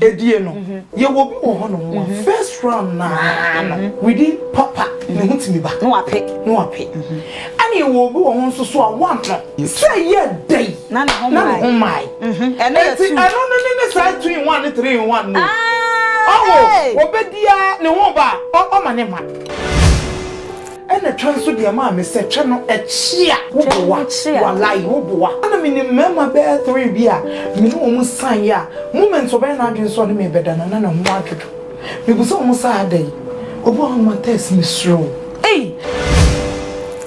Edie no, yɛwɔ bi wɔ hɔnom a first round no ara no within papa ne ho tumi ba. Na wape. Na wape. Ɛna yɛwɔ bi wɔ ho nso so a one no sɛ yɛ dɛ yi na ne ho mmae. Na ne ho mmae. Ɛno yɛ two. Ɛti ɛno no ne ne saa two in one ne three in one no. Ɔwɔ wɔbɛdi a ne ho ba a ɔma ne ma. Ɛna twɛ nso deɛ maa me sɛ twɛ no ɛkyea woboa walayi woboa ɛna me nim mɛma bɛɛ three bi a me ne wɔn san yɛ a moment ɔbɛyɛ n'adwene sɛ ɔne me bɛda no na ne ho adwodwo me bu sɛ wɔn saa ada yi obi a wɔn atɛs me suro ei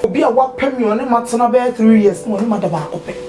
obi a wapɛ me ɔne ma tena bɛɛ three years na ɔne ma da baako pɛ.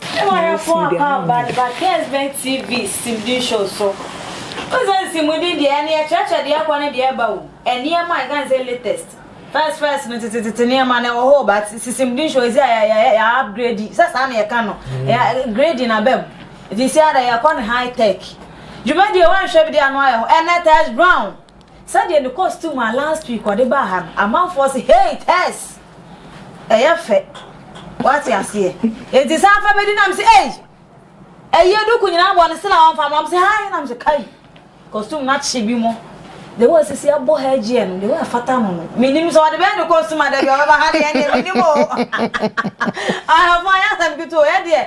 Ewarefo aka Bad Bakers bɛn TV simdi show so. Wohu sɛ nsimdi deɛ ɛno yɛkyerɛkyerɛ deɛ ɛkɔ ne deɛ ɛba o, nneɛma a yɛka no sɛ latest, first first no tetetete nneɛma no ɛwɔ hɔ o but simdi show ɛsi a yɛayɛ yɛ upgrade sɛ saa na yɛka no grading aba mu nti ɛsi ara deɛ yɛkɔ no high tech. Dwumadie woanhwɛ bi deɛ ano ayɛ hɔ ɛnɛ Tess Brown. Sɛdeɛ ne costume a last week ɔde baa ha no amanfoɔ se hey Tess ɛyɛ fɛ wate aseɛ enti saa fa bɛdi nam se ei ɛyɛ duku nyinaa bɔ ne se na ɔmfa ma ɔm se hai nam se kai costume na kye bi mo the way sisi abɔ ha agyeɛ no the way afata no no menim sɛ ɔde bɛyɛ ne costume adɛ bi ɔbɛba ha deɛ ɛne menim o ahafo ayɛ asɛm ketewa yɛ deɛ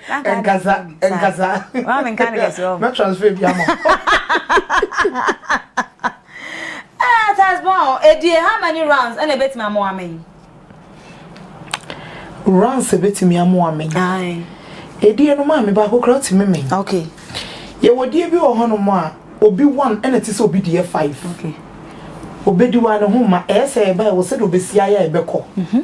nkasa nkasa wọn mi nka ne kɛse wɔn. na transfer bi ama. ɛɛ eh, tasbɔn edie eh, how many rounds ɛna ebetumi amoa mi. rounds ebetumi amoa mi. edie no maa mi baako kura ɔtumi mi. okay. yɛwɔ die bi wɔ hɔnom a obi one ɛna ti sɛ obi deɛ five. okay. obedi wa ne ho ma ɛyɛ sɛ ɛbɛyɛ wɔ sɛ de obesi ayɛ ɛbɛkɔ. Mm -hmm.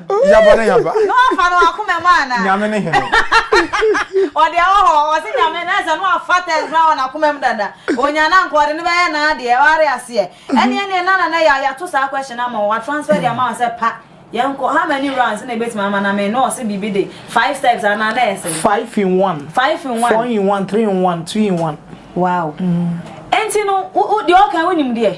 Yaba ne yaba. No afa no akoma mu ana. Nyame ne hene. Ɔde ɛwɔ hɔ ɔse nyame no ɛsɛ no afa tɛs no awɔ n'akoma mu dada onya no anka ɔde no bɛyɛ n'adeɛ ware aseɛ ɛneɛ neɛ na nana yɛ yɛato saa question ama wa transfer de ama wa sɛ pa yɛnkɔ how many rounds na ebetumi ama na me na ɔse biribi de five steps anaa na ɛsɛ five in one five in one four in one three in one two in one wow ɛnti no deɛ ɔka wo nim deɛ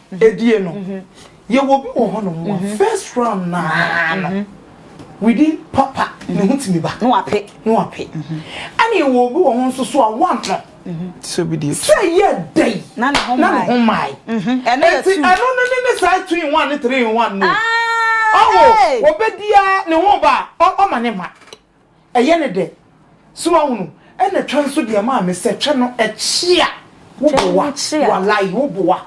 Edie no, yɛwɔ obi wɔ hɔ nom a first round no ara no, within papa ne ho tumi ba. Na wape. Na wape. Ɛna yɛwɔ obi wɔ hɔ nso so a one no. Sɛ obi di etu. Sɛ yɛ dɛ yi. Na ne ho mmae. Na ne ho mmae. Ɛno yɛ two. Ɛti ɛno no ne ne size two in one ne three in one no. Ɔwɔ obedi a ne ho ba ɔma ne ma. Ɛyɛ no dɛ. So woahunu? Ɛna twɛ nso deɛ maa me sɛ twɛ no ɛkye a, wo boa. Walayi, wo boa.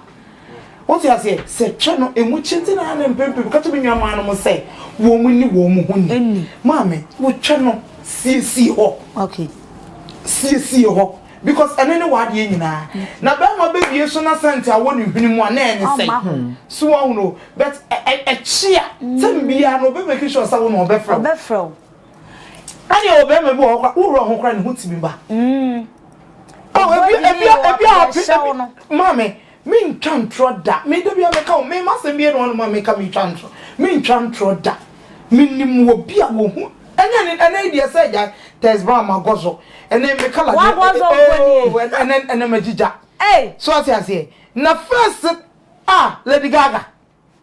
Wote aseɛ? Sɛ twɛ no ɛmu kye nti na ne mpempem ka kyerɛ me nuammaa nom sɛ wɔn nni wɔn ho ni. Maame, wotwɛ no siesie hɔ. Siesie hɔ. Because ɛno ne w'adeɛ nyinaa. Na bɛrima bɛbie so na sɛnte awɔ ne hwene mu a na ɛne sɛn. So wahuno but ɛkye a tɛm biara no ɔbɛ make sure sɛ wo na ɔbɛfrɛ wo. Ɔbɛfrɛ wo. Ɛne ɛwɔ bɛrima bi wɔ hɔ kora wohura ho kora ne ho tumi ba. Ɔbɔ yie ɔbɛhyɛ wo no. Maame. Mentwa ntorɔ da. Me, da biara meka o, me, m'asɛm bi anuanom a meka metwa ntorɔ. Mentwa ntorɔ da. Menim obi a wɔhu, ɛnyɛ ɛne, ɛnɛ yi deɛ sɛ gyae, Tɛsbaa magɔzɔ, ɛnɛ me kala deɛ, Wagɔzɔ mpo nie? oo, ɛnɛ, ɛnɛ, ɛnɛ magyigya. Ei! So ate aseɛ? Na first, ah, Lady Gaga,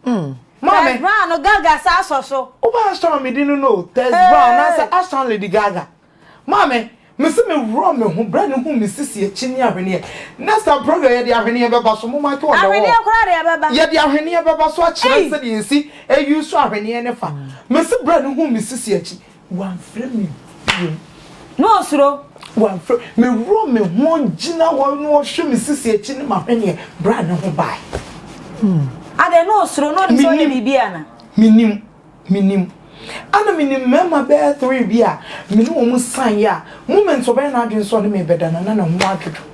Maame. Tess Brown no Gaga sa asɔ so. Wo ba asɔ me di no no o, Tess Hey. Brown na sa asɔ Lady Gaga. Maame, me se me wurɔ me ho berɛ ne hu me sisi akyi ne ahweneɛ. Next time program yɛde ahweneɛ bɛba so, mo make on the wall. Ahweneɛ koraa de ɛbɛba. Yɛde ahweneɛ bɛba so akyerɛ Ei. sɛdeɛ yɛsi use ahweneɛ ne fa. Me se berɛ ne hu me sisi akyi. Wamfrɛ me bio. Na ɔsuro. Wamfrɛ. Meworɔ me ho gyina hɔ na ɔhwɛ me sisi akyi ne m'ahweneɛ berɛ a ne ho bae. Adɛn na ɔsuro na ɔde sɛ ɔyɛ biribi ana? Menim. Menim. Ana menim mmarima bɛyɛ three bi a me ne wɔn san yɛ a moment ɔbɛyɛ n'adwene sɛ ɔne me bɛda no na ne ho adwodwo.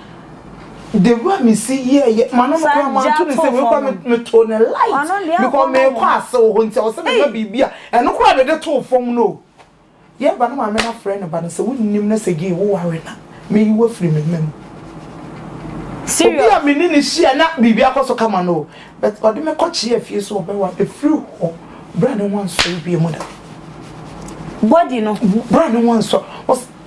the way me si yɛ yɛ ma no no kora ma to ne sɛ me kɔ me to ne light because me kɔ ase wɔ hɔ nti a wɔsɛ me ma biribi a ɛno kora me de to fam no yɛ ba no ma me na frɛ ne ba no sɛ wonnim na sɛ gay wo ware na me yi wafiri me mma mu obi a me ne ne hyia na biribi akɔ so kama no but ɔde me kɔ kyeɛ fie so ɔbɛwa ɛfiri hɔ bra ne ho ansɔre bie mu da body no bra ne ho ansɔre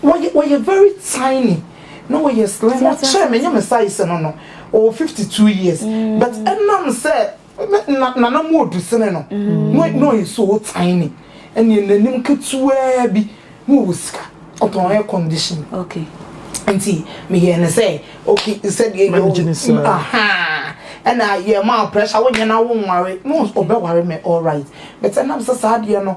Wɔyɛ wɔyɛ very tiny na wɔyɛ slim wɔkyɛɛ me nyɛ me size no no ɔwɔ fifty two years but ɛnam sɛ me na nana mu odu sene no na na ɔyɛ so tiny ɛneɛ nanim ketewa bi na ɔwɔ sika ɔtɔn air condition nti meyɛɛ no sɛ ok sɛdeɛ yɛ Manage ne saa. ahaa ɛna yɛmaa pressure wonyɛ na wonware na ɔs- ɔbɛware me alright but ɛnam sɛ saa adeɛ no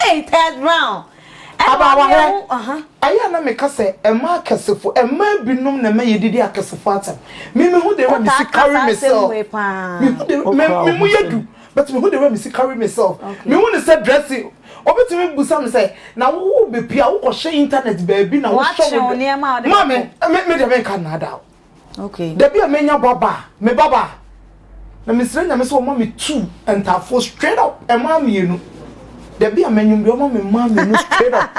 Hey, Tess Brown. Abaawaherɛ, ɛyɛ a na meka sɛ ɛma akɛsefo, ɛma binom na ɛma yɛdidi akɛsefo atɛm. Me me ho de wɛ mesi carry myself. Me ho de me me mu yɛ du, but me ho de wɛ mesi carry myself. Me hu ne sɛ dressing, obetumi busa me sɛ, na wo wo bepia, wokɔhyɛ internet baabi na wohyɛ wo. Maame, me me deɛ menka nnaadaa o. Okay. Dabi a menya ba ba a, me ba ba a, na mesrɛ Nyame sɛ ɔma me two ntaafoɔ straight up, ɛmaa mmienu. Dabi a manyum deɛ ɔma me mmaa mmienu straight up.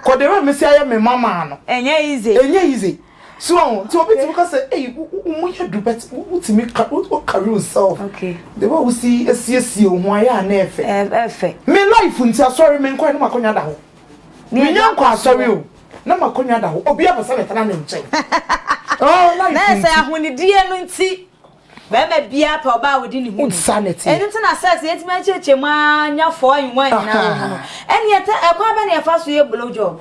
Kɔ the way mesi ayɛ me mama no. Ɛnyɛ easy. Ɛnyɛ easy. So ɔho, nti obi tumi ka sɛ, ei, wo mu yɛ du, but wotumi wo carry yourself. Okay. The way wosi esiesie wo ho ayɛ a na ɛfɛ. Ɛfɛ. Me life nti asɔre menkɔɛ na makɔnya da hɔ. Minnya nkɔ asɔre o, na m'akonnwa da hɔ, obiara pɛ sɛ metena ne nkyɛn. Oh, life nti. Sɛ ahonidie no nti, bɛrima biara pɛ ɔbaa a ɔdi ne ho ni. Ɛno nti na sex yɛtumi akyerɛkyerɛ mu ara nya four in one nyinaa wɔ mu no. Ɛnneɛ tɛ ɛkwan bɛ na yɛfa so yɛ blow job?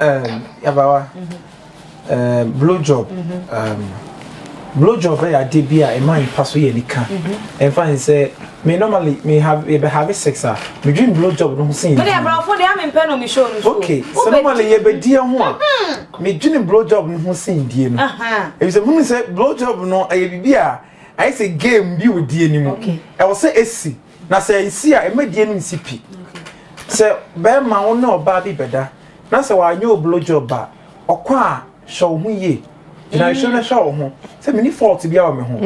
Um, yabawa. Um, blow job. Um, blow job yɛ adeɛ bi a ɛma nipa so yɛ nika. Ɛnfa n sɛ me normally me have yɛ bɛ have sex a me dream blow job no ho sin. Me de abrafo de ame mpɛ no me show no so. Okay, so normally yɛ bɛ die ho a mm-hmm. me dream blow job no ho sin die no. Ebi sɛ hunu sɛ blow job no ɛyɛ bibi a ayɛ sɛ game bi wɔ die ni mu. Ɛwɔ sɛ esi. Na sɛ nsi a, mma die no nsi pi. Sɛ barima, wo ne ɔbaa bi bɛda, na sɛ wanyɛ wo blow job a, ɔkɔ a, hwɛ wo ho yie. Gyina nsuo no hwɛ wo ho sɛ menni fault biara wɔ me ho.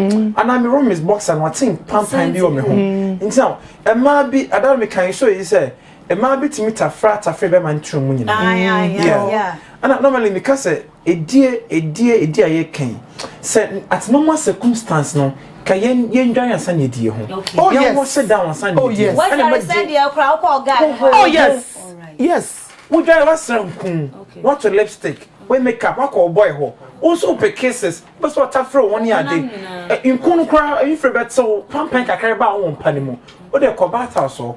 Anaa me roommate boxer no, ɔte mpanpan bi wɔ me ho. Nti na mmaa bi, ada no meka nso eyi sɛ, mmaa bi tumi tafra tafre bɛrima no tirim nyinaa. Yeah. Ɛna normally meka sɛ, Edie, edie, edie a yɛka yi, sɛ at normal circumstance no, ka yɛn yɛn dware ansa na yɛdi yɛn ho. Okay. Oh, yɛn ho hyɛ down ansa na oh, yɛdi yɛn ho. Oh yes. Wɔdware sɛ deɛ kura wokɔ ɔga ne ho. Oh yes. Yes. Wodware wasra nkum, wato lipstick, we makeup, wakɔ ɔbɔe hɔ. Wo nso wopɛ kisses, wopɛ sɛ ɔtafere wo ho ne ade. Nku no koraa, mfiri bɛtew, pampan kakra ba a wowɔ mpa no mu. Wode kɔ bath house hɔ,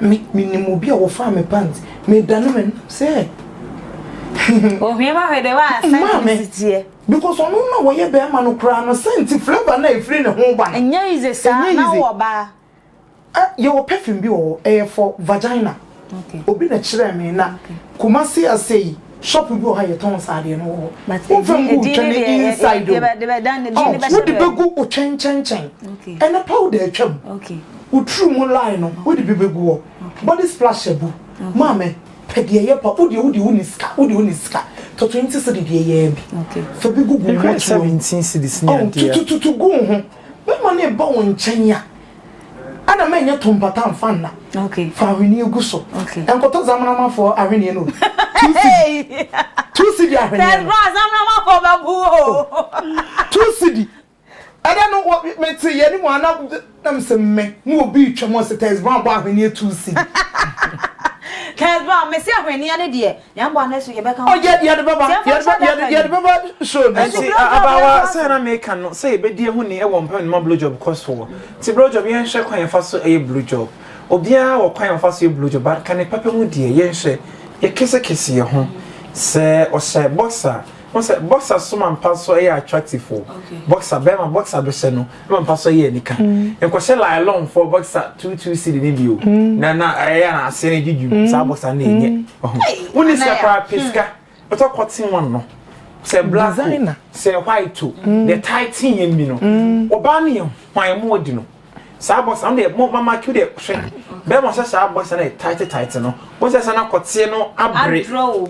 Me me nim obi a wɔfaa me pants me dane me nam sɛ. Ohwie ma hwɛ de wa sɛnti ne sitiɛ. Because ɔno na wɔyɛ bɛrima no koraa no sɛnti flavour na efiri ne ho ba no. Ɛnyɛ yize saa na wɔ baa. Ah yɛ wɔ perfume bi wɔ hɔ ɛyɛ for vagina. Okay. Obi na kyerɛ me na Kumasi ase yi. Shop bi wɔ hɔ a yɛtɔn nsaadeɛ no wɔ hɔ. But Womfa edin- ngu wo edin twɛn no deɛ yɛ- yɛ- inside yɛ- o. yɛbɛ- yɛbɛ- dan ne din Oh, no bɛhyɛ wode baabi. bɛgu wo twɛn nkyɛnkyɛn. Okay. Ɛne powder atwam. Okay. Wo tiri mu line no, wode bi bɛgu hɔ. Okay. Body splash abu. Maame, pɛ deɛ ɛyɛ pa. Wodeɛ wode wonni sika, wode wonni sika. Tɔ 20 cedi deɛ ɛyɛ ara bi. Okay. Fa bi gugu wo Ɛkura mmɔtoa mu. 17 cedis ne Oh, adeɛ. tutututu gu wo ho. Bɛrima no reba wo nkyɛn a, Ana mɛnyɛ to mpata mfa nna. Okay. Fa ahweneɛ gu so. Okay. Nkɔtɔ zamanamafoɔ ahweneɛ no. Two cedi. Two cedi ahweneɛ no. Tẹ̀síwá zamanamafoɔ bẹ bu o. Oh. Two cedi. Ẹdẹ no wọ mi ti yẹ ni mu ana na mi sẹ mmẹ ni obi twẹ mu ọsẹ tẹ̀síwá bọ ahweneɛ two cedi. Tẹ̀síwá mi sẹ ahweneɛ ni deɛ. Yɛn bɔ anɛ so yɛbɛka ho. Oh yɛ yɛde bɛba Tiɛnfo yɛde nhyɛ bɛ da yɛde ka yɛde yi. bɛba show no Ɛnti so. blowjob abaawa yɛnto aso. sɛɛ na meka no sɛ yɛbɛdi ɛho ni ɛwɔ mpɛm no ma blowjob kɔ soɔ nti blowjob yɛnhwɛ kwan yɛfa so ɛyɛ blowjob obiara wɔ kwan a ɔfa so yɛ blowjob but ka ne papa mu deɛ yɛnhwɛ yɛ kese kese yɛ ho sɛ ɔhyɛ boxer wohu sɛ boxer so ma mpa so ɛyɛ attractive o boxer bɛɛma boxer bɛhyɛ no ma mfa sɔ yɛ anika nkɔ hyɛ nylon fɔ boxer two two cd ne bio na na ɛyɛ na ase ne dwudwu saa boxer na ɛnyɛ wo ne sika koraa pɛ sika bɛtɔ cotton one no sɛ black o sɛ white o deɛ tae teen yɛn bi no ɔbaa no yɛ hwan mu adi no saa boxer no deɛ mo mama kiw deɛ hwɛ bɛrima hyɛ saa boxer no yɛ tight tight no wɔn sɛ sɛ na kɔteɛ no abere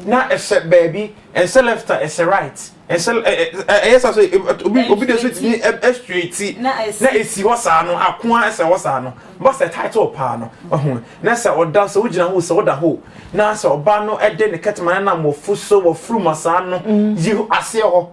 na ɛhyɛ baabi ɛhyɛ left a ɛhyɛ right. Ɛsɛ ɛ ɛ ɛ ɛyɛ saa so ɛ ɛ obi obi de so tumi ɛ ɛ straight ti na esi hɔ saa no ako ara ɛsɛ hɔ saa no ba sɛ title paa no ɔho na sɛ ɔda sɛ wogyina ho sɛ ɔda hɔ na sɛ ɔba no ɛde ne kɛtɛma no nam wɔ fo so wɔ furu ma saa no yi aseɛ hɔ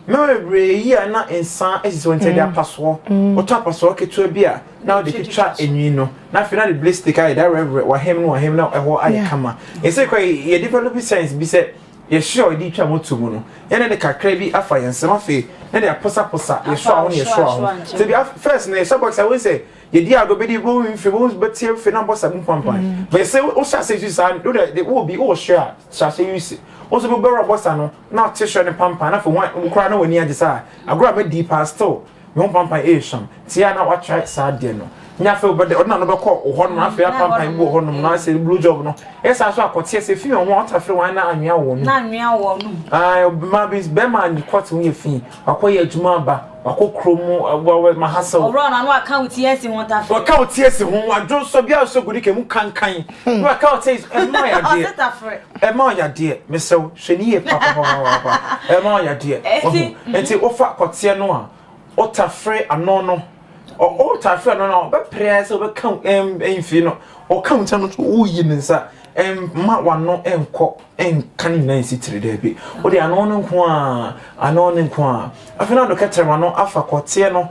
mɛma bebree yi a na nsa esisi wɔn ti ɛde apasoɔ ɔtɔ apasoɔ ketewa bi a na ɔde twitwa enwi no na afei na de blistik ayɛ da rɛbrɛ wahem no wahem na ɛhɔ ayɛ kama ɛsɛ kɔ yɛ develop science bi sɛ. Yɛhwe a ɔde retwa moto mu no, yɛne ne kakra bi afa yɛn nsam afei na de aposaposa yɛhwe a ho ne yɛhwe a ho. Sɛ bi first no yɛhyɛ bɔ sɛ wohu sɛ yɛdi ago bɛdi bɔ ho mfe bɔ bɛti mfe na bɔ sa mu pampan. Bɛ sɛ wohyɛ ase use saa no de de wo bi wo hwe a hyɛ ahyɛ use. Wo nso bɛwura bɔ sa no na ɔte hwe ne pampan na afei wo kora na w'ani agye saa agorɔ a madi paa still. Me ho pampan ɛyɛ sum nti a na wa try saa deɛ no nyɛ afei wobɛdɛ ɔde na no bɛkɔ wɔ hɔ nom afei apampan bi wɔ hɔ nom na asɛ blue job no yɛ saa so akɔteɛ sɛ fi wɔn ho ɔta fere wɔn na anwea wɔn na anwea wɔn nom ae ma bi bɛma anyi kɔte ho yɛ fi wakɔ yɛ adwuma aba wakɔ kuro mu wɔwɔ ma ha sɛ ɔwura na no aka wo tie si ho ta fere ɔka wo tie si ho wadwo nsɔ bi a sɛ gudi kɛmu kankan na waka ɔte yi so ɛma ɔyɛ adeɛ ɔte tafere ɛma ɔyɛ adeɛ mesrɛ wo hwɛ ne yie papapapapa ɛma ɔyɛ adeɛ ɔho nti wofa kɔteɛ no a ɔtafere ano no ɔtafere ano no a ɔbɛpere ayɛ sɛ ɔbɛka ɛmfie no ɔka mu sɛ no woyi ne nsa ɛma wano ɛnkɔ nka ne nyinaa nsi tiri daabi wode ano no nko a ano no nko a afei na ɔde kɛtɛrɛ ma no afa kɔteɛ no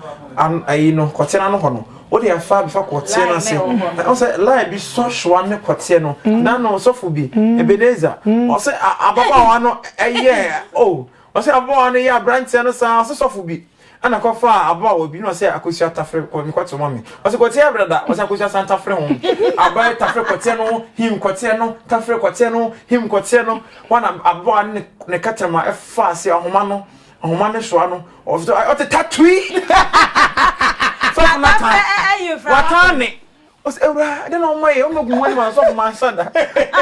ayi no kɔteɛ no ano hɔ no wode afa bɛfa kɔteɛ no ase ɔsɛ lai bi sɔ soa ne kɔteɛ no mm. na no sɔfo bi mm. ebeneza mm. ɔsɛ ababaawa no ɛyɛ o ɔsɛ ababaawa no yɛ aberanteɛ no saa ɔsɛ sɔfo bi Ɛna kɔfaa aba a wɔdwini ɔsɛ akosua tafere kɔ ne kɔtew ma me. Ɔse kɔteɛ brada ɔsɛ akosua san tafere ho aba yi tafere kɔteɛ no him kɔteɛ no tafere kɔteɛ no him kɔteɛ no hɔ na ababaa no ne ne kɛtrɛma ɛfa ase ahoma no ahoma no soa no ɔfto ayɛ ɔte tatui sɔfo no atan watan ne ɔse awuraa ɛdɛ na ɔma yɛ ɔma gu ho anim asɔfo manhyɛ da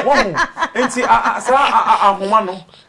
wahu nti a a saa a a ahoma no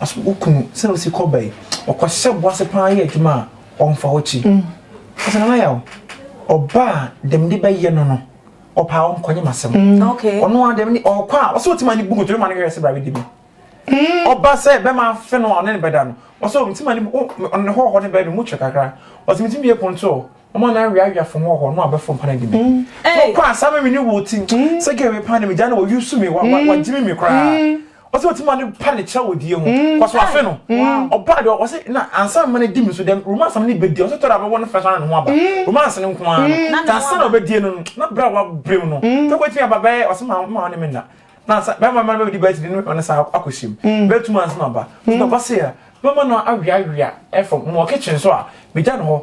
Aso wo kunu sɛ osi kɔ bɛyi ɔkɔ hyɛ bo ase paa yɛ adwuma a ɔmfa hɔ kyi ɔsɛ nana yaw ɔba a dɛm de bɛyɛ no no ɔpaa wɔn kɔnye ma sɛm ɔno a dɛm ne ɔkɔ a ɔsɛ ɔtima ne bu nkotodwe ma ne hwɛ sɛ bra bɛdi bi ɔba sɛ bɛma afe no a ɔne ne bɛda no ɔsɛ ɔtima ne bu ɔne hɔ hɔ ne bɛyɛ no mu kyerɛ kakra ɔsɛ metumi bie pon to Ɔma na awia awia fo ho ɔhɔ no abɛfo mpa na di mi. Na ɔkɔ ansa mi ne wo ti. Sɛ gɛ wei pa ne mi gya na wɔ yusu mi wa wa gyimi mi koraa. Ɔsɛ ɔti ma ne pa ne kyerɛ wɔ die ho. Kɔ so afe no. Ɔbaa de ɔsɛ na ansa ma ne di mi so dɛm romance na ne bɛ die ɔsɛ tɔra bɛ wɔ ne fresh na ne ho aba. Romance ne nko ara no. Na ansa na ɔbɛ die no no na bra wa brem no. Tɛ kɔ ti mi aba bɛ ɔsɛ ma ma ɔne mi na. Na ansa bɛ ma ma bɛ di bɛ ti di ne ɔne sa akɔ hyem. Bɛ tu ma ansa ma ba. Ti na ɔba sɛ ya. Mɛ ma na awia awia ɛfo mo wɔ kitchen so a mi gya ne hɔ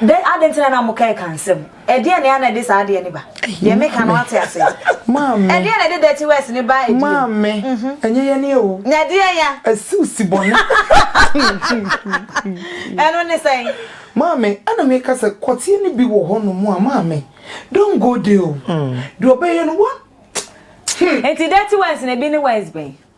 Dɛn, adɛn nti na na moka ɛka nsɛm? Ɛdeɛn na ɛyɛ a na ɛde saa adeɛ no ba? Deɛ meka no ate aseɛ? Maame. Ɛdeɛn na ɛde dirty words no ba ɛdeɛn? Maame, ɛnyɛ yɛn nie o. Na ɛdeɛn ya? Asi wo si bɔne. Ɛno ne sɛn? Maame, ɛna meka sɛ kɔteɛ no bi wɔ hɔ nom a, maame, don't go there o. Deɛ ɔbɛyɛ no, wa, hmm. Nti dirty words no, ɛbi ne words bɛn?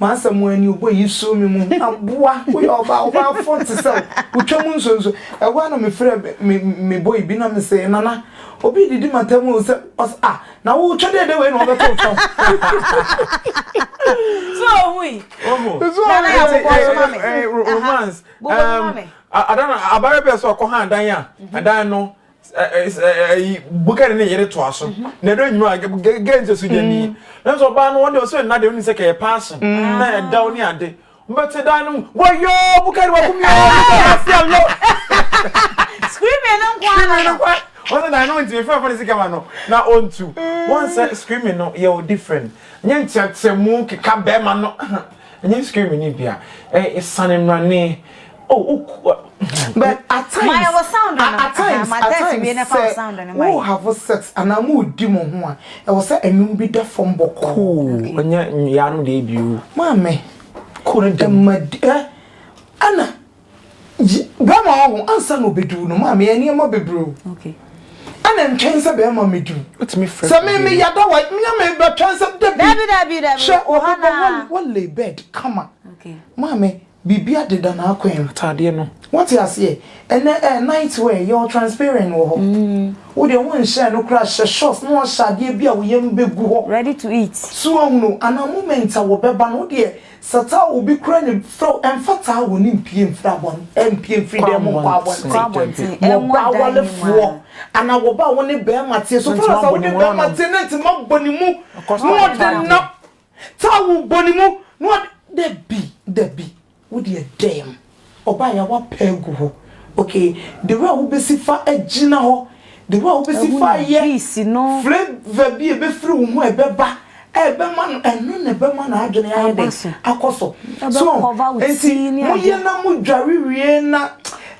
M'asɛm ara ni, ɔbɔ eyi soo me mu. Aboa, woyɛ ɔbaa, ɔbaafo nte sɛ wo, wotwa mu nsonso. Ɛhɔ ara na mefrɛɛ me me boy bi na mese, Nana, obi redidi m'atam o, sɛ ɔse, Ah, na wotwa dɛdɛ wei na ɔbɛto wo fam. So ohui? Ohu. Nana yɛ abobɔ nso ma me. Romance. Bobɔ bi ma me. Ada no, abayewa bi a sɛ ɔkɔ ha adan a, ɛdan no ɛyi bukari ne yere toa so mhm. na ɛdɔ nyuma gɛgɛ nti so gyani mm. nanso ɔbaa no wɔde ɔsɛ nna de ɔni sɛ kɛyɛ paase mm. na ɛdaw ne ade mbɛte dan no mu wɔyɔ bukari wɔ kumi ɔwɔ bukari ase alo. screaming no nkwa screaming no nkwa wɔn sɛ dan no ntumi fɛn fɛn ne sika ma no na ɔntu mm. wɔn sɛ screaming no yɛ o different nye nkyɛnkyɛnmu keka bɛrima no. Ɛnyɛ nsukirimi ne bi a, ɛyɛ esiane mmrane. Oh, oh, but at times, at times, at times, sɛ wo have sex anaa mo di mo ho a, ɛwɔ sɛ ɛnum bi da fam bɔkɔɔ. Cool, ɛnyɛ yaanom deɛ bi o. Maame, ɛma di, eh, ana. Yi bɛrima a ɔho ansa na ɔbɛduru no maa me yɛ nneɛma bebree o. Ɛna ntwɛn sɛ bɛrima mɛduru. Wotumi frɛ Sɛ me me yada wa me me bɛtwɛn sɛ dabi. Dabi dabi dabi. Hwɛ ɔbɛbɔ wa wa lay bed kama. Maa me biribi adeda n'akwan mu. Ataadeɛ no. Wote aseɛ ɛnɛ ɛɛ night wear yɛ wɔ transparent wɔ hɔ. Wo deɛ wo nhyɛ no koraa hyɛ shorts na wahyɛ adeɛ bi a wo yam bɛgu hɔ. Ready to eat. So wahunu anaa moment a wɔbɛba no wo deɛ. Sata a obi kura ne fɛw mfata a wɔne mpue mfiri abɔn mpue mfiri dan mu nkɔ abɔnten wɔ ɔbaa awarefoɔ anaa wɔ ɔbaa a wɔne bɛrima te so fɛrɛ sɛ wɔne bɛrima te ne ntoma bɔ ne mu na ɔde nam tawo bɔ ne mu na ɔde dabi dabi wodeɛ dɛm. Ɔbaeɛ a wapɛ agu hɔ. Okay the way a wobɛsi fa agyina hɔ the way a wobɛsi fa ayɛ flavour bi a ɛbɛfiri wo ho a ɛbɛba a ɛbɛma no ɛno na ɛbɛma n'adwene ayɛ dɛ akɔ so so nti moyɛ na modware wie na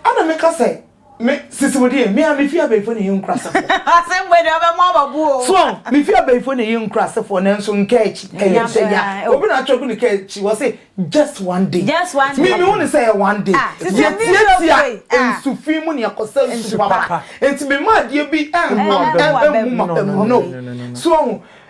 ɛna meka sɛ Me sisi wo deɛ, me a mefi abɛɛfoɔ na ɛyɛ nkurasefoɔ. Asɛm bɔ deɛ ɔbɛmɔ aba bu o. So mefi abɛɛfoɔ na ɛyɛ nkurasefoɔ nanso nkaakyi ɛyɛ sɛ ya. Obi na atwerɛ gu ne kaakyi hɔ se just one day. Just one day. Me mehu ne sɛ ɛyɛ one day. Yɛtiatia nsu fi mu na yɛkɔsɛ nsu papa. Nti mema adeɛ bi ɛnham ɛmmu m'aba mu no. So ɔho.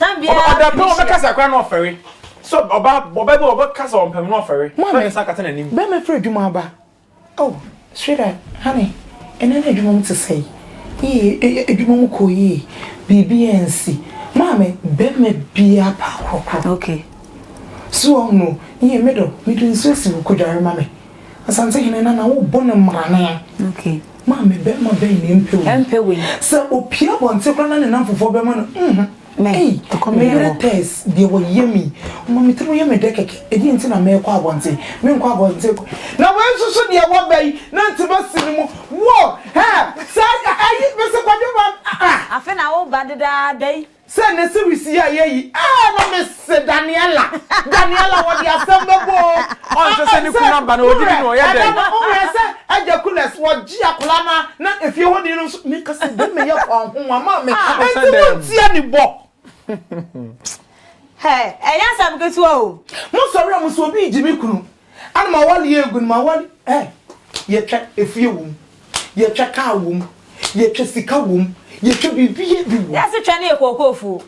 Ɔda pɛn ɔbɛkasa koraa na ɔfɛre. Sɛ ɔbaa ɔbaa bi ɔbɛkasa ɔmpɛm na ɔfɛre. Ɔfɛre ne nsa kata n'anim. Bɛrima afiri adwuma aba. Oh sweetheart, honey, ɛnnɛ na adwuma mu te sɛn? Yie, adwuma mu kɔ yie. Biribiara ansi. Maame, bɛrima biara pɛ akorɔkorɔ. Okay. So wahunu? Yie, me dɔ, mede nsuo asi wo, kɔdware ma me. Asantehene Nana wobɔ no mmrane a maame bɛrima bɛn na ɛmpɛ wei? Sɛ opue abɔnten koraa na ne nnamfofoɔ bɛma no nhu ei me yere Tess deɛ wayɛ me yi ɔma me tirim yɛ me dɛ kɛkɛ ɛdeɛn nti na merekɔ abɔnten menkɔ abɔnten kɔ na wei nso so deɛ waba yi na nti masi ne mu wo hɛ saa ɛyi mese kwadwo ba ah ah. Afe na woba dedaada yi. Sɛ ne series yi a yɛyi ɛɛ na me se Daniella Daniella wɔde asɛm bɛbɔ oo ɔnsɛ sɛ ne kunu aba na ɔdi bi na ɔyɛ dɛn. Sɛ ɛba no wo werɛ sɛ agya Kules wɔgye akwadaa no a na efie hɔ ni no nso me ka sɛ dɛn me yɛ kɔ ahoma ma me ɛnti mo ntia ne bɔ. Hɛ ɛnyɛ asɛm ketewa oo. Mo sɔre a mo se obi regye me kunu. Ana m'awale yɛ gu no m'awale eh Yɛtwa efie wom Yɛtwa kaa wom Yɛtwa sika wom Yɛtwa biribiaa bi wom. Yɛse twa no yɛ kookoo fuo.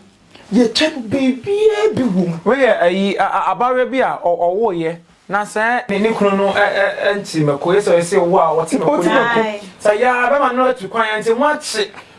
Yɛtwa no biribiaa bi wom. Wei yɛ ayi abaayewa bi a ɔwoeɛ na sɛ ne kunu no nte mako, yɛ sɛ ɔyɛ sɛ owu a ɔte mako no mu. Sɛ yɛ a bɛma no atu kwan, ɛnti moakye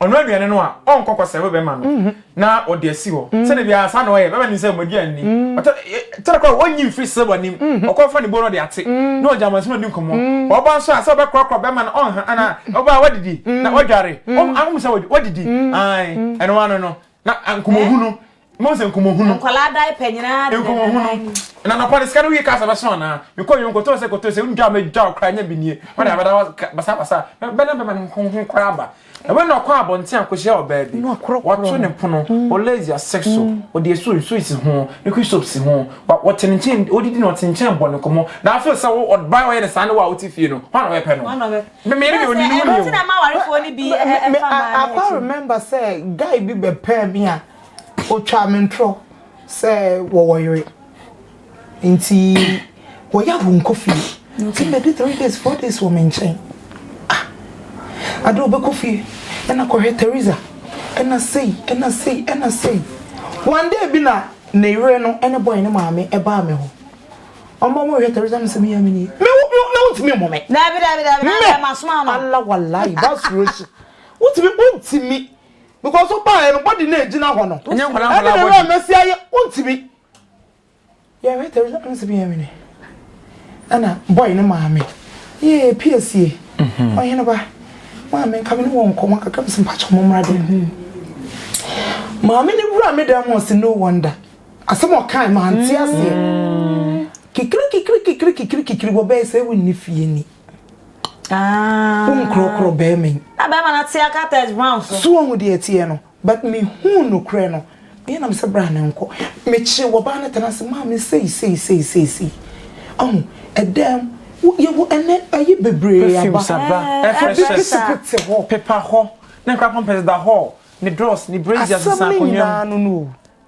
ɔnoa aduane no a, ɔnkɔ kɔsɛe wo bɛrima no na ɔde asi hɔ. Sɛdeɛ biara saa na ɔyɛ, bɛrima nim sɛ wɔn aduane ni. Ɔtɔ kyerɛ koraa a, ɔnyi mfiri Silva anim, ɔkɔfa ne bo na ɔde ate, na ɔgye amansin na ɔdi nkɔmmɔ. Ɔba nso a, sɛ ɔbɛkorɔkorɔ bɛrima no, ɔnha anaa ɔba a, wadidi na wadware. Wohu sɛ wadidi? Aane, ɛno ara no no. Na nkɔmmɔhunu. Mose nkɔmɔhunu. Nkwadaa diaper nyinaa de nkɔmɔhunu. Na nɔpa de sika no wie kasa bɛso anaa? Mekɔ yɛn nkɔtɔ sɛ kɔtɔ sɛ ndwa mɛ dwa ɔkra nya bi nie. Wɔn a bɛda basa basa bɛna bɛma ne nkɔmɔhunu kora aba. Na wɔn na ɔkɔ abɔnten akɔhyia ɔbaa bi. Wɔto ne pono. Olezi asek so. Ɔde esu nsu esi ho. Ne kwi soap si ho. Wɔte ne nkyɛn odidi na wɔte nkyɛn bɔ ne nkɔmɔ. Na afei sɛ wo ɔbaa ɔyɛ ne saa ne wo a wote fie no. Wɔn na wɔbɛpɛ no. Me me yere deɛ ɔni ne ho ni o. Akwa remember sɛ guy bi bɛpɛɛ me a. Otwaa me ntorɔ sɛ wɔwɔ yere nti wɔyɛ a wɔnkɔ fie. Nti mmɛdi three days four days wɔ me nkyɛn. Ah! Ade ɔbɛkɔ fie ɛna kɔhwɛ Theresa ɛna sei ɛna sei ɛna sei. One day bi na ne yere no ne boy no maame baa me hɔ. Wɔba wɔhwɛ Theresa na sɛ me yam nie. Me wo wo na wontumi mmu me. Daabi daabi daabi na daabi masoma wo no. Me Allah walayi ba suro hye. Wontumi wontumi. because wo baa yɛ no body na egyina hɔ no ɛnyɛ nkwadaa nkwadaa body ɛna ɛna mɛsi ayɛ ontimi yɛ hwɛ tɛbi sɛ ɔnsi bi yɛ mene ɛna boy ne maame yee piesie mhm. ɔhene ba maame nka me ne wɔn nkɔmɔ kakra mesi mpakyɛ ɔmo mmra dɛm mhm. maame ne wura me dɛm ɔsi no wonder asɛm ɔkan maa nti aseɛ mm. kikiri kikiri kikiri kikiri kikiri wɔ bɛyɛ sɛ ewu nni fie ni. Ah. Wo nkorɔkorɔ bɛrima yi. Na bɛrima no ate aka Tess Brown so. So woahu deɛ ɛteɛ no? But me huu nokorɛ no. Meɛ na me sɛ bra ne nkɔ. Me kyere wɔbaa no tena ase maa me sei sei sei sei sei. Ahu? Ɛdaa mu. Wo yɛ wɔ ɛnɛ ayi bebree aba. Perfumes aba. Air freshness. Ɛbi pete pete hɔ. Pepa hɔ. Ne nkora pampers da hɔ. Ne drawers, ne braziers, nsa akonnwa mu. Asɛm no nyinaa no no o.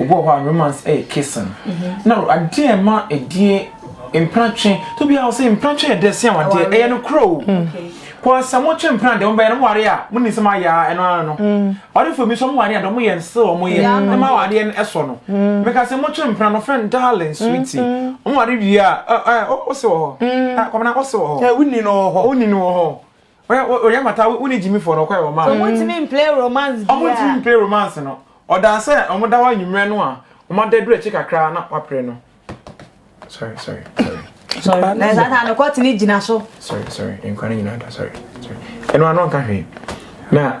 Obi wɔ hɔ a romance ɛyɛ kissing. Na adeɛ a ɛma ɛdie mpena twe to bi a ɔsɛ mpena twe yɛ dɛ se awadeɛ ɛyɛ no korɔ o. Kɔɔ sɛ mo twe mpena deɛ mo bɛyɛ no mo ware a mo nim sɛ mo ayɛ a ɛno ara no. Awadefoɔ bi nso mo ware a deɛ mo yɛ no still ɔmo yɛ ɛma awadeɛ no ɛsɔ no. Me ka sɛ mo twe mpena no ɔfrɛ no darling sweetie. Ɔmo ware wie a ɛ ɛ ose wɔ hɔ. Kwabena ose wɔ hɔ. Ɛ wonni no wɔ hɔ. Wonni no wɔ hɔ. Ɔyɛ o oyɛ mata wo ne gyimi fɔ nɔkware ɔma. Ɔmo ntumi mplay romance biaa. Ɔmo ntumi mplay romance no ɔdaa sɛ ɔmo da hɔ anwummerɛ no a ɔmo ada duru akyi kakra na wapre no sorry sorry sorry sorry na ɛsaa taa no kɔtene gyina so sorry sorry nkwa no nyinaa da sorry sorry ɛno ano nka hwee na.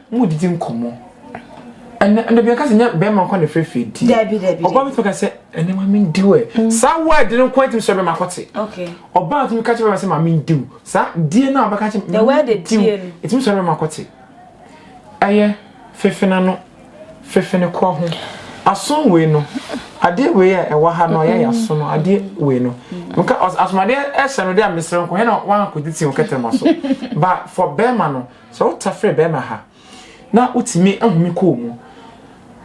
Mo didi nkɔmɔ. Ɛnna ɛnna bi aka sɛ nyɛ bɛrima nkɔ na fɛ fɛ di. Dabi dabi. Ɔbaa mi tumi ka sɛ ɛnna maame n diw ɛ. Mm. Saa wɔ ɛdi no nkɔ ɛtumi sɛ bɛrima kɔte. Ɔbaa tumi ka kyɛ bɛrima sɛ maame n diw. Saa die no a ɔbɛka kyɛ maame n diw. Ɛtumi sɛ bɛrima kɔte. Ɛyɛ fefena no fefene kɔ ho. Aso wei no adeɛ wei a ɛwɔ ha no yɛ aso no adeɛ wei no. Nka asomadeɛ ɛhyɛ no de a mesrɛ nkɔ hɛ na wankɔdi ti nkɛtɛma so. Ba for bɛrima no. Sɛ wo tafere bɛɛma ha na wo tumi ahome kɔɔ mu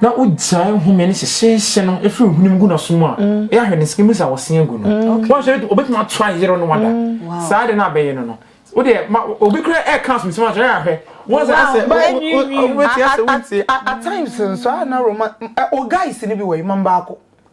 na wo gyae home no hyehyeehye no firi hone mu gu no so mu a mm. ɛyɛ ahwɛ ne sika mu sɛ wɔse agu no mm. wɔn sɛ obɛtumi ato ayere no wada mm. saa de no abɛyɛ no no wo deɛ ma obi kura ɛɛ kan so nsɛm akyerɛ ahwɛ wɔn sɛ asɛ wɔn ti asɛ wɔn ti. at times nso a na roma o guys ni bi wɔ yi mma mbaako.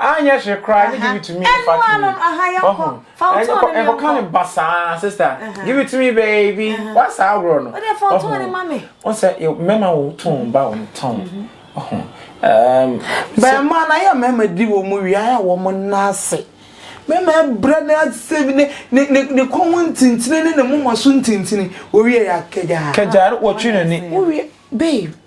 anyɛ hwee koraa ɛne give it to me ne fa to me ɔho ɛnkɔ ka ne ba saa sister give it to me baby wasaa agorɔ no ɔho ɔsɛ mɛma wo tɔn ba wo tɔn ɔho bɛɛma na yɛ mɛma di wɔ mu wia yɛ wɔ mu naase mɛma ɛbrɛ ne asɛ bi ne ne ne kɔn ho ntintini ne ne moma so ntintini wɔwie yɛ akagya kagya wɔtwe n'ani wɔwie babe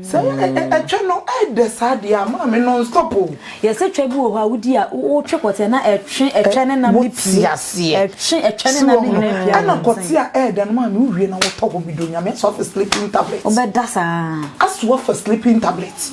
Sɛ ɛtwɛ no ɛdɛ saa deɛ a maame non stop o. Yɛsɛ twɛ bi wɔ hɔ a wodi a wotwe kɔteɛ na ɛtwe ɛtwɛ ne nam ne pie. Wote aseɛ. Ɛtwe ɛtwɛ ne nam ne nyinaa pie a. Ɛna kɔteɛ a ɛɛdɛ no maame wowie na wotɔ hɔ bi do nyame aso afa sleeping tablet. Wobɛda saa. Aso afa sleeping tablet.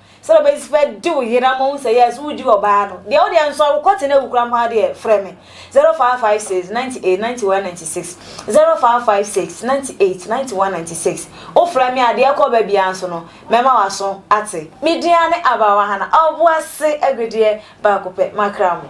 Sɛ bɛbɛsi bɛ di wo yere ama wohu sɛ yes wo di ɔbaa no deɛ wodeɛ nso a wo kɔ tena awu kora mpo adeɛ frɛ me 0556 98 91 96 0556 98 91 96 wo frɛ me adeɛ kɔ ba biara nso no mɛma waso ate me din ane Abawa Hana Ɔboase agudeɛ baako pɛ makra mo.